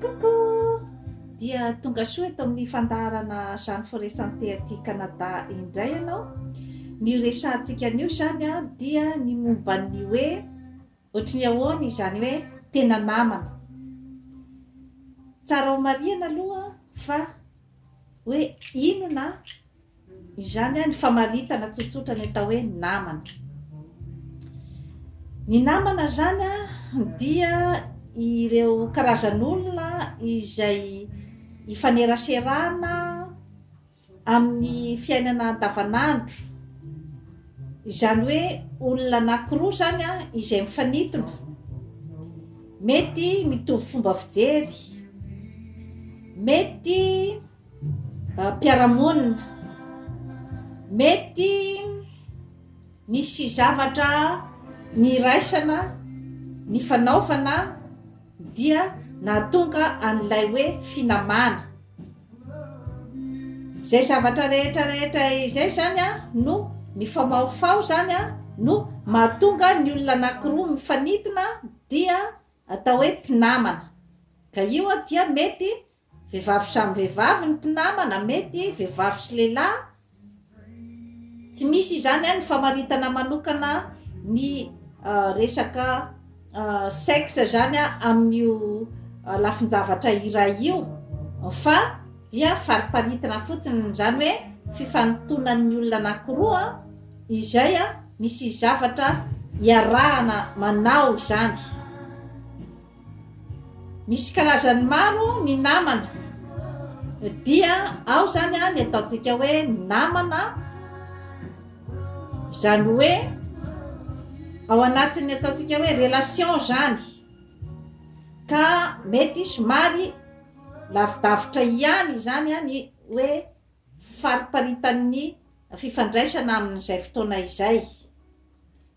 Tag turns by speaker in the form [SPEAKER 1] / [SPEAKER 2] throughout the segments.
[SPEAKER 1] Coucou! Dia tonga soa eto amin'ny fandaharana Jeanne Forêt Santé aty Canada indray ianao. Ny horesahantsika anio izany dia ny momba ny hoe ohatry ny ahoana izany hoe tena namana. Tsara homarihana aloha fa hoe inona Izany ny famaritana tsotsotra ny atao hoe namana. Ny namana izany dia ireo karazan'olona izay ifaneraserana amin'ny fiainana andavanandro. Izany hoe olona anankiroa izany izay mifanintona. Mety mitovy fomba fijery, mety. mpiara-monina, mety misy zavatra niraisana, nifanaovana dia nahatonga an'ilay hoe finamana. Izay zavatra rehetra rehetra izay izany no mifamahofaho izany no mahatonga ny olona anankiroa mifanintona dia atao hoe mpinamana. Ka io dia mety Vehivavy samy vehivavy ny mpinamana, mety vehivavy sy lehilahy, tsy misy izany an ny famaritana manokana ny resaka sexe izany an amin'io lafin-javatra iray io fa dia fariparitina fotsiny, izany hoe fifanintonan'ny olona anankiroa izay an misy zavatra iarahana manao izany. Misy karazany maro ny namana dia ao izany an ny ataontsika hoe namana izany hoe ao anatin'ny ataontsika hoe relation izany ka mety somary lavidavitra ihany izany an ny hoe fariparitan'ny fifandraisana amin'izay fotoana izay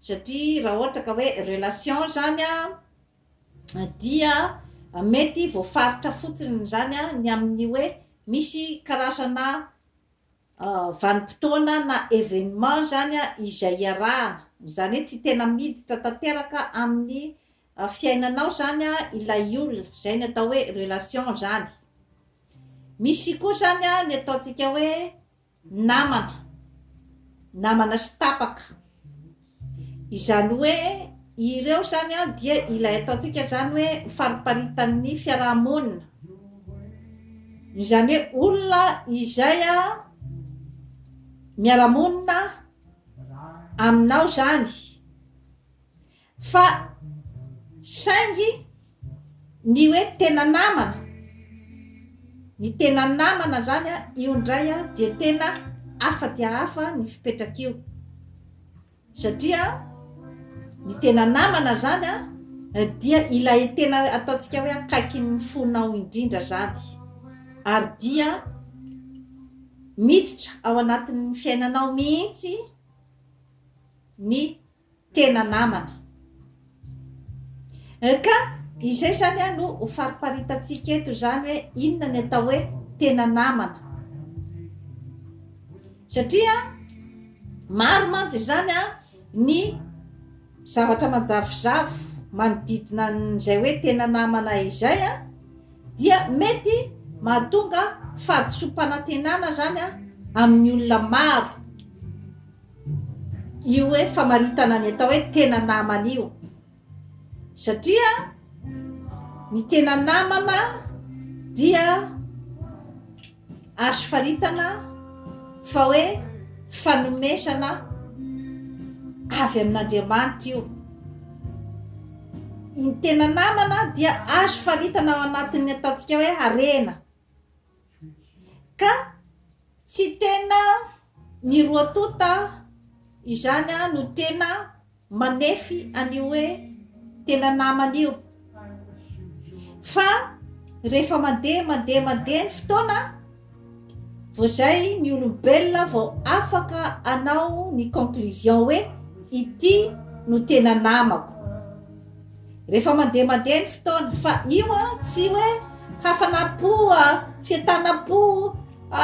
[SPEAKER 1] satria raha ohatra ka hoe relation izany an dia mety voafaritra fotsiny izany ny amin'ny hoe misy karazana vanim-potoana na événement izany izay iarahana, izany hoe tsy tena miditra tanteraka amin'ny fiainanao izany ilay olona, izay ny atao hoe relation izany, misy koa izany ny ataontsika hoe namana, namana sy tapaka, izany hoe ireo izany an dia ilay ataontsika izany hoe fariparitan'ny fiaraha-monina, izany hoe olona izay an miara-monina aminao izany. Fa saingy ny hoe tena namana, ny tena namana zany a, io ndray a dia tena hafa dia hafa ny fipetrak'io, satria ny tena namana zany a dia ilay tena ataontsika hoe akaikin'ny fonao indrindra zany, ary dia miditra ao anatin'ny fiainanao mihitsy ny. tena namana eh, ka izay zany a no ho fariparitantsika eto zany hoe inona ny atao hoe tena namana satria maro mantsy izany a ny zavatra manjavozavo manodidina n'izay hoe tena namana izay a dia mety mahatonga fahadisoam-panantenana zany a amin'ny olona maro Io hoe famaritana ny atao hoe tena namana io satria ny tena namana dia azo faritana fa hoe fanomezana avy amin'Andriamanitra io. Ny tena namana dia azo faritana ao anatin'ny ataontsika hoe harena. Ka tsy tena miroatonta izany no tena manefy an'io hoe tena namana io. Fa rehefa mandeha mandeha mandeha ny fotoana vao izay ny olombelona vao afaka anao ny conclusion hoe ity no tena namako. Rehefa mandeha mandeha ny fotoana fa io a tsy hoe hafanam-po a, fientanam-po a,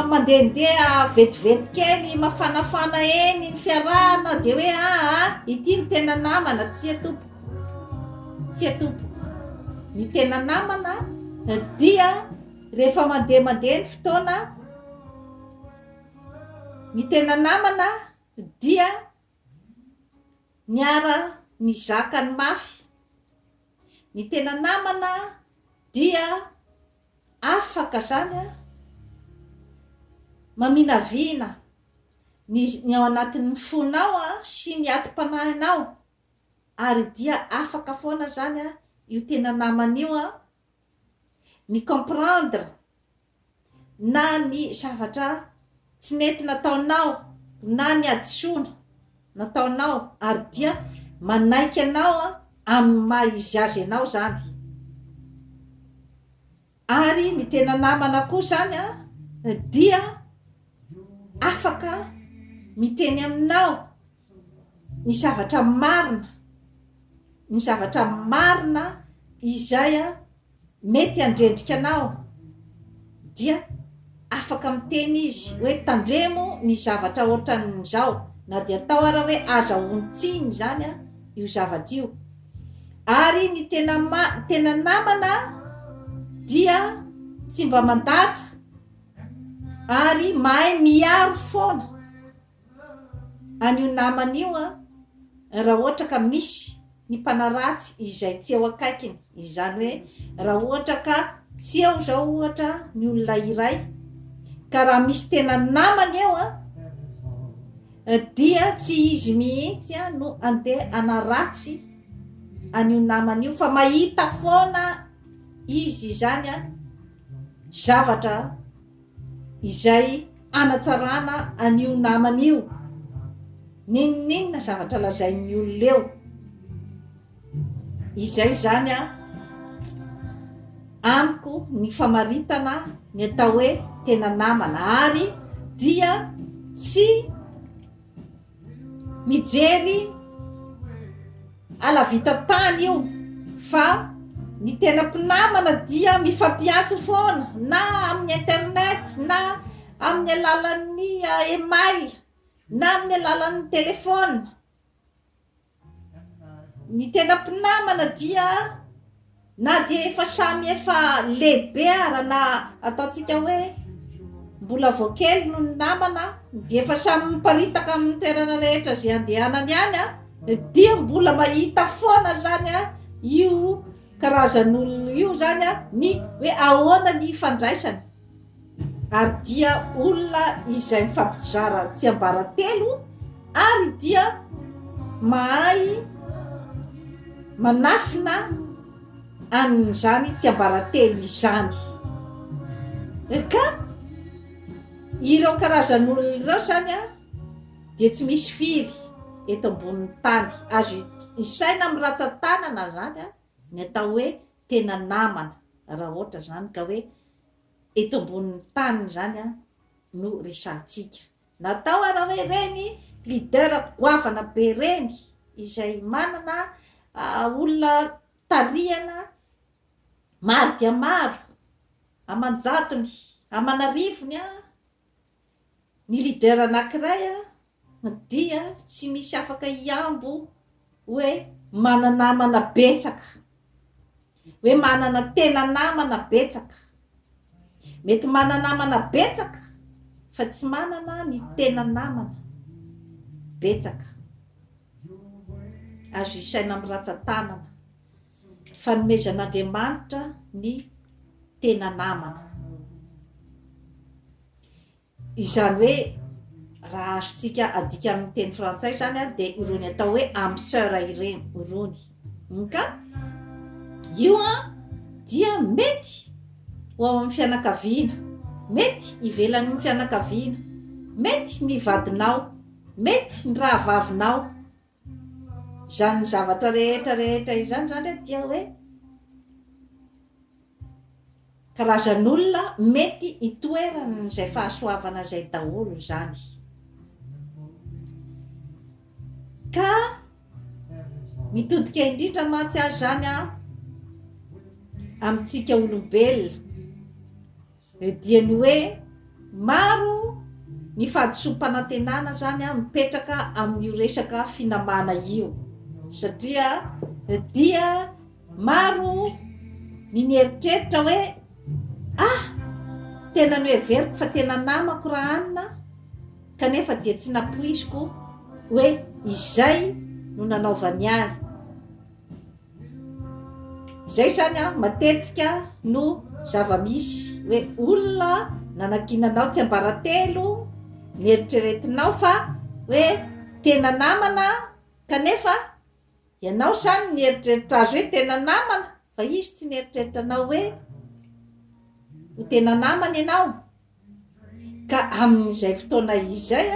[SPEAKER 1] mandehandeha vetivety kely mafanafana eny ny fiarahana dia hoe aa ity ny tena namana, tsia tompoko, tsia tompoko. Ny tena namana dia rehefa mandeha mandeha ny fotoana, ny tena namana dia Niara nizaka ny mafy. Ny tena namana dia afaka zany a maminavina ny ny ao anatin'ny fonao a sy ny ati-panahinao ary dia afaka foana zany a io tena namana io a mi-comprendre na ny zavatra tsy nety nataonao na ny hadisoana nataonao ary dia manaiky anao amin'ny maha izy azy anao izany ary ny tena namana koa izany an dia afaka miteny aminao ny zavatra marina ny zavatra marina izay an mety handrendrika anao dia afaka miteny izy hoe tandremo ny zavatra ohatran'izao na dia atao ara hoe aza hontsiny izany a io zavatra io ary ny tena ma tena namana dia tsy mba mandady ary mahay miaro foana An'io namany io an! Raha ohatra ka misy ny mpanaratsy izay tsy eo akaikiny, izany hoe raha ohatra ka tsy eo izao ohatra ny olona iray, ka raha misy tena namany eo an! dia tsy izy mihitsy an! no andeha hanaratsy an'io namany io fa mahita foana izy izany an! zavatra izay hanatsarana an'io namany io, n'inon'inona zavatra lazain'ny olona eo, izay izany a, amiko ny famaritana ny atao hoe tena namana ary dia tsy mijery alavita tany io fa ny tena mpinamana dia mifampiantso foana na amin'ny internet na amin'ny alalan'ny email na amin'ny alalan'ny telefona Ny tena mpinamana dia na dia efa samy efa lehibe ara na ataontsika hoe mbola vao kely no ny namana dia efa samy miparitaka amin'ny toerana rehetra izay andehanany any a dia mbola mahita foana zany a io karazan'olona io zany a ny hoe ahoana ny ifandraisany Ary dia olona izay mifampizara tsiambaratelo ary dia mahay manafina an'izany tsiambaratelo izany. Ka ireo karazan'olona ireo izany an, dia tsy misy firy eto ambonin'ny tany. Azo isaina amin'ny ratsan-tanana izany an, ny atao hoe tena namana, raha ohatra izany ka hoe. eto ambonin'ny tany izany no resahantsika. Natao ary hoe ireny leader goavana be ireny izay manana olona tarihana maro dia maro aman-jatony, aman'arivony an! Ny leader anankiray dia tsy misy afaka hihambo hoe manana namana betsaka, hoe manana tena namana betsaka. Mety manana namana betsaka fa tsy manana ny tena namana betsaka. Azo isaina amin'ny ratsan-tanana. Fanomezan'Andriamanitra ny tena namana. Izany hoe raha azontsika adika amin'ny teny frantsay izany an, dia irony atao hoe âme sœur ireny, irony. Hum ka io an dia mety ho ao amin'ny fianakaviana, mety ivelan'ny fianakaviana, mety ny vadinao, mety ny rahavavinao, Izany zavatra rehetra rehetra izany izany re dia hoe karazan'olona mety hitoeran'izay fahasoavana izay daholo izany. Ka mitodika indrindra mantsy aza izany amintsika olombelona. Dia ny hoe maro ny fahadisoam-panantenana zany mipetraka amin'io resaka finamana io satria dia maro ny nieritreritra hoe ah! tena noheveriko fa tena namako ra anona kanefa dia tsy nampoiziko hoe izay no nanaovany ahy. Izay izany an, matetika no zava-misy hoe olona nanakiana anao tsiambaratelo, nieritreretinao fa hoe tena namana kanefa ianao izany nieritreritra azy hoe tena namana fa izy tsy nieritreritra anao hoe ho tena namana ianao. Ka amin'izay fotoana izay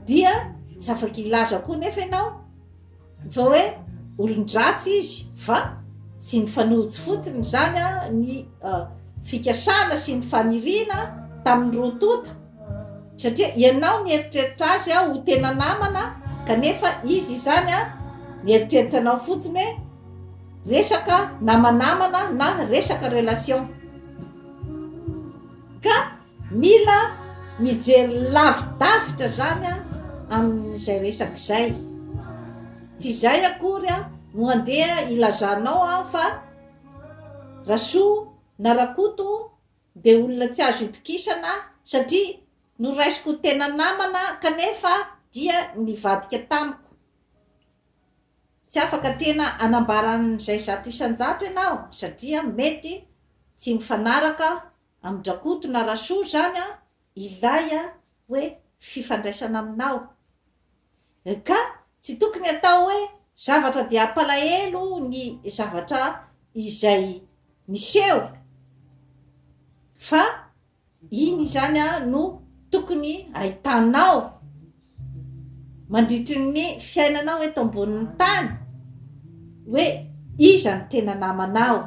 [SPEAKER 1] dia tsy afaka hilaza koa nefa ianao fa hoe olon-dratsy izy fa tsy nifanojo fotsiny izany ny uh, fikasana sy ny faniriana tamin'ny roa tonta satria ianao mieritreritra azy aho ho tena namana kanefa izy izany a mieritreritra anao fotsiny hoe resaka namanamana na resaka relation Ka mila mijery lavidavitra zany amin'izay resaka izay. Tsy izay akory no handeha hilazanao fa Rasoa na Rakoto dia olona tsy azo itokisana satria noraisiko ho tena namana kanefa dia nivadika tamiko. Tsy afaka tena hanambara an'izay zato isan-jato ianao satria mety tsy mifanaraka amin-dRakoto na Rasoa izany ilay hoe fifandraisana aminao. NK, Tsy tokony atao hoe zavatra dia hampalahelo ny zavatra izay niseho fa Iny izany no tokony ahitanao mandritry ny fiainanao eto ambonin'ny tany hoe iza no tena namanao.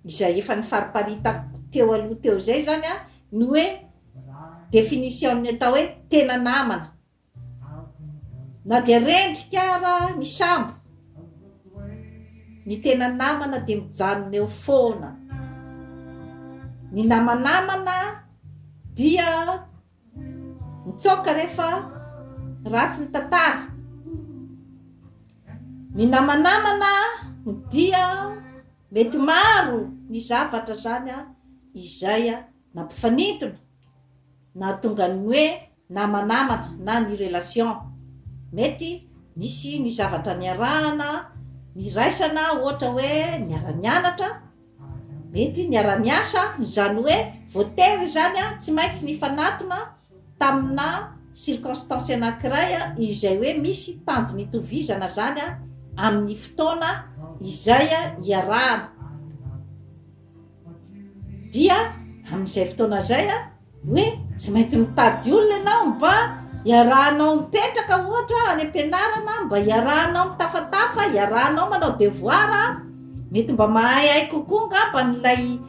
[SPEAKER 1] Izay efa nifariparitako teo aloha teo izay izany no hoe definition-n'ny atao hoe tena namana. Na dia rendrika ara ny sambo, ny tena namana dia mijanona eo foana. Ny namanamana dia mitsoaka rehefa ratsy ny tantara. Ny namanamana dia mety maro ny zavatra zany izay nampifanintona nahatonga ny hoe. namanamana na ny relation mety misy ny zavatra niarahana niraisana ohatra hoe niara nianatra mety niara niasa izany hoe voatery izany a tsy maintsy nifanatona tamina circonstance anakiray a izay hoe misy tanjona itovizana zany a amin'ny fotoana izay iarahana Dia amin'izay fotoana izay hoe tsy maintsy mitady olona ianao mba iarahanao mipetraka ohatra any am-pianarana, mba iarahanao mitafatafa, iarahanao manao devoara, mety mba mahaihay kokoa angamba an'ilay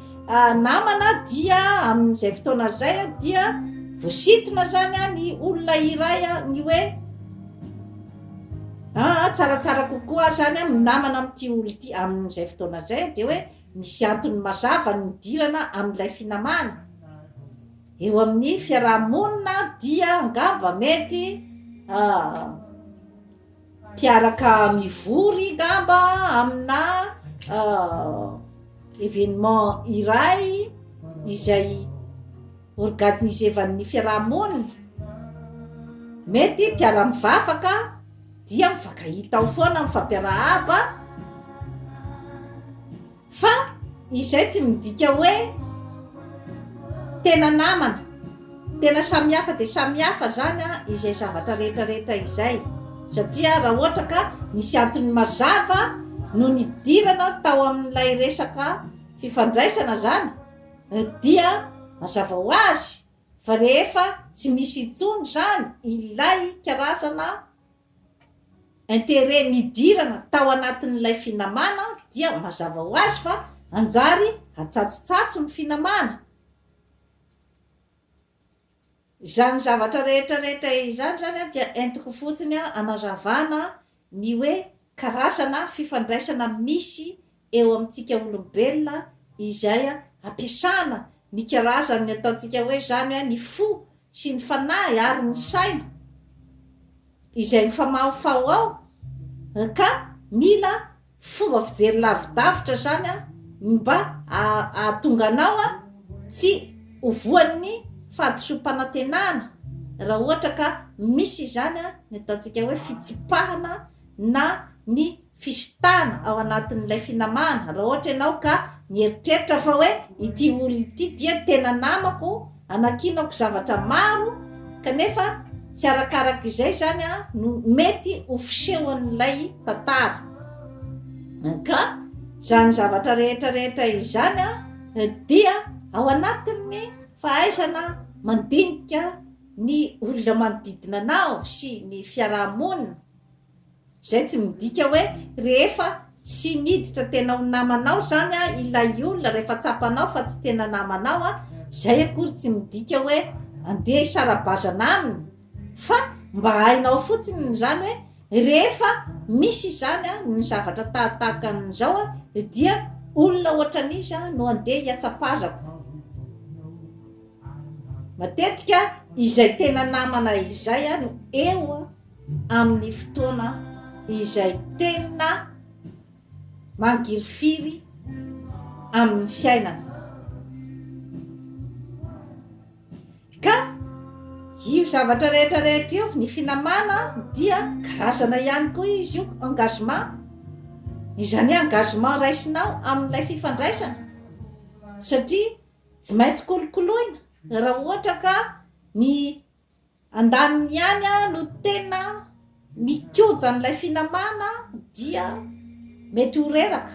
[SPEAKER 1] namana dia amin'izay fotoana izay dia voasintona izany ny olona iray ny hoe aa tsaratsara kokoa izany amin'ny namana amin'ity olona ity amin'izay fotoana izay dia hoe Misy antony mazava ny nidirana amin'ilay finamana. Eo amin'ny fiaraha-monina dia angamba mety mpiaraka mivory angamba amina événement iray izay Organisevan'ny fiaraha-monina, mety mpiara-mivavaka dia mifankahita ao foana, mifampiarahaba, fa izay tsy midika hoe tena namana, tena samihafa dia samihafa izany an, izay zavatra rehetra rehetra izay, satria raha ohatra ka nisy antony mazava no nidirana tao amin'ilay resaka fifandraisana izany, Dia mazava ho azy fa rehefa tsy misy intsony izany ilay karazana intérêt nidirana tao anatin'ilay finamana dia mazava ho azy fa hanjary hatsatsotsatso ny finamana. Izany zavatra rehetra rehetra izany izany dia entiko fotsiny hanazavana ny hoe karazana fifandraisana misy eo amintsika olombelona izay ampiasana ny karazan'ny ataontsika hoe izany ny fo sy ny fanahy ary ny saina izay mifamahofaho ao ka mila Fomba fijery lavidavitra zany an ny mba ahatonga anao an tsy ho voan'ny fahadisoam-panantenana raha ohatra ka misy izany an ny ataontsika hoe fitsipahana na ny fisitahana ao anatin'ilay finamana raha ohatra ianao ka mieritreritra fa hoe ity olona ity dia tena namako Anakinako zavatra maro kanefa tsy arakaraka izay izany no mety ho fisehon'ilay tantara. Ka izany zavatra rehetra rehetra izany dia ao anatin'ny fahaizana mandinika ny olona manodidina anao sy ny fiaraha-monina. Izay tsy midika hoe rehefa tsy niditra tena ho namanao izany ilay olona, rehefa tsapanao fa tsy tena namanao, izay akory tsy midika hoe andeha hisara-bazana aminy, fa mba hainao fotsiny izany hoe rehefa misy izany ny zavatra tahaka an'izao dia olona ohatran'iza no andeha hihatsapazako. Matetika izay tena namana izay no eo amin'ny fotoana izay tena mangirifiry amin'ny fiainana. Ka io zavatra rehetra rehetra io, ny finamana dia karazana ihany koa izy io engagement, izany hoe engagement raisinao amin'ilay fifandraisana satria tsy maintsy kolokoloina raha ohatra ka ny Andaniny ihany no tena mikoja an'ilay finamana dia mety ho reraka.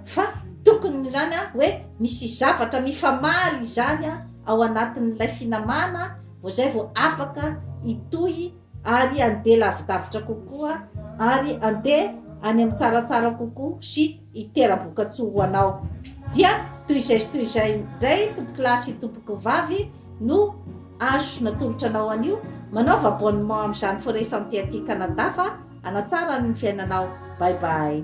[SPEAKER 1] Fa tokony izany hoe misy zavatra mifamaly izany ao anatin'ilay finamana vao izay vao afaka hitohy ary andeha lavidavitra kokoa ary andeha any amin'ny tsaratsara kokoa sy hitera-bokatsoa ho anao. Dia toy izay sy toy izay indray tompokolahy sy tompokovavy no azo natolotra anao anio, manaova abonnement amin'izany Forêt Santé aty Canada fa hanatsara ny fiainanao. Bye bye.